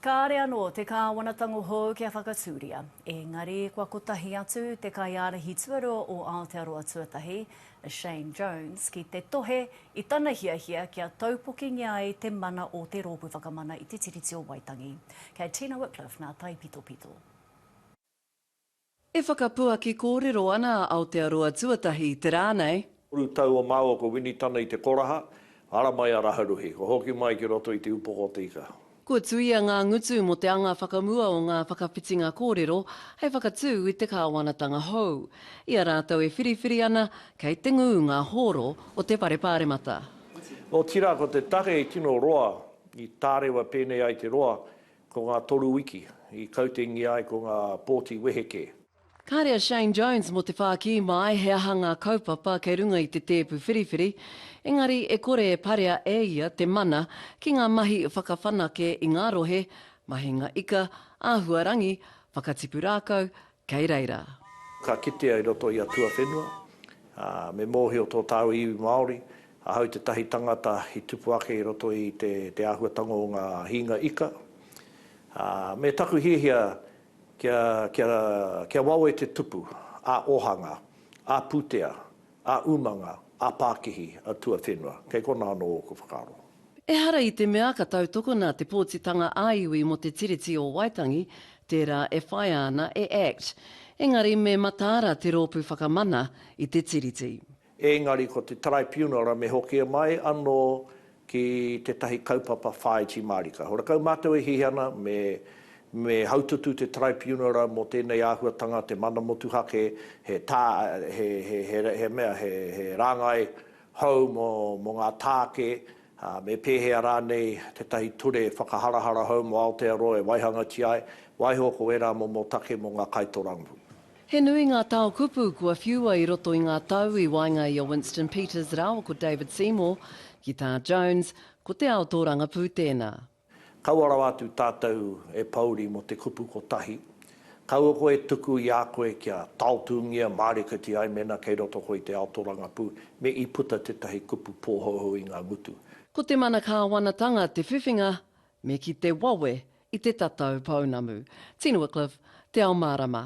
Kāre anō te Kāwanatanga hou kia whakatūria, ēngari kua kotahi atu te kaiārahi tuarua o Aotearoa Tuatahi, a Shane Jones, ki te tohe i tana hiahia kia taupokingia ai te mana o Te Rōpū Whakamana i te Tiriti o Waitangi. Kei Tina Wickliffe nā taipitopito. E whakapuaki kōrero ana a Aotearoa Tuatahi te rā nei. Toru tau o māua kua wini tana i te koraha, ara mai a Raharuhi, kua hoki mai ki roto i te upoko o te ika. Kua tuia ngā ngutu mō te anga whakamua o ngā whakawhitinga kōrero hei whakatū i te kāwanatanga hou. I a rātou e whiriwhiri ana, kei te ngū ngā hōro o te Whare Pāremata. Otirā ko te take i tino roa, i tārewa pēnei ai te roa, Ko ngā toru wiki i kautengia ai ko ngā pōti wehe kē. Kāre a Shane Jones mō te whākī māi he aha ngā kaupapa kei runga i te tēpu whiriwhiri, engari e kore e parea e ia te mana ki ngā mahi whakawhanake i ngā rohe, mahinga ika, āhua rangi, whakatipu rākau, kei reira. Ka kitea i roto i a tuawhenua, ā, me mōhio tō tāu iwi Māori, ahau tētahi tangata i tupu ake i roto i te, te āhuatanga o ngā hīnga ika. Ā, me taku hiahia kia, kia, kia wawe te tupu ā-ōhanga, ā-pūtea, A umanga, a pakihi, a tuawhenua, kei kona ano oku whakaaro. Ehara i te mea ka tautokona te pōtitanga ā-iwi mō te Tiriti o Waitangi, tērā e whaia ana e Act. Engari me mataara te Rōpū Whakamana i te Tiriti. Engari ko te Taraipiunara me hokia mai ano ki tētahi kaupapa whāiti mārika. Horakau mātou e hiahia ana me me haututu te Taraipiunara mō tēnei āhuatanga, te mana motuhake, he tā, he, he, he, he mea, he, he rāngai hou mō, mō ngā tāke, ā, me pēhea rānei tētahi ture whakaharahara hou mō Aotearoa e waihangatia ai, waiho ko ērā momo take mō ngā kaitorangapū. He nui ngā tao kupu kua whiua i roto i ngā tau i waenga i a Winston Peters rāua ko David Seymour, ki tā Jones, ko te ao tōrangapū tēnā. Kaua rawa atu tātou e pōuri mō te kupu kotahi. Kaua koe e tuku i a koe kia taotūngia, mārikiti ai mēnā kei roto koe i te ao tōrangapū, me i puta tētahi kupu pōhouhou i ngā ngutu. Ko te mana kāwanatanga te whiwhinga me ki te wawe i te tatau pounamu. Tino Wycliffe, Te Ao Mārama.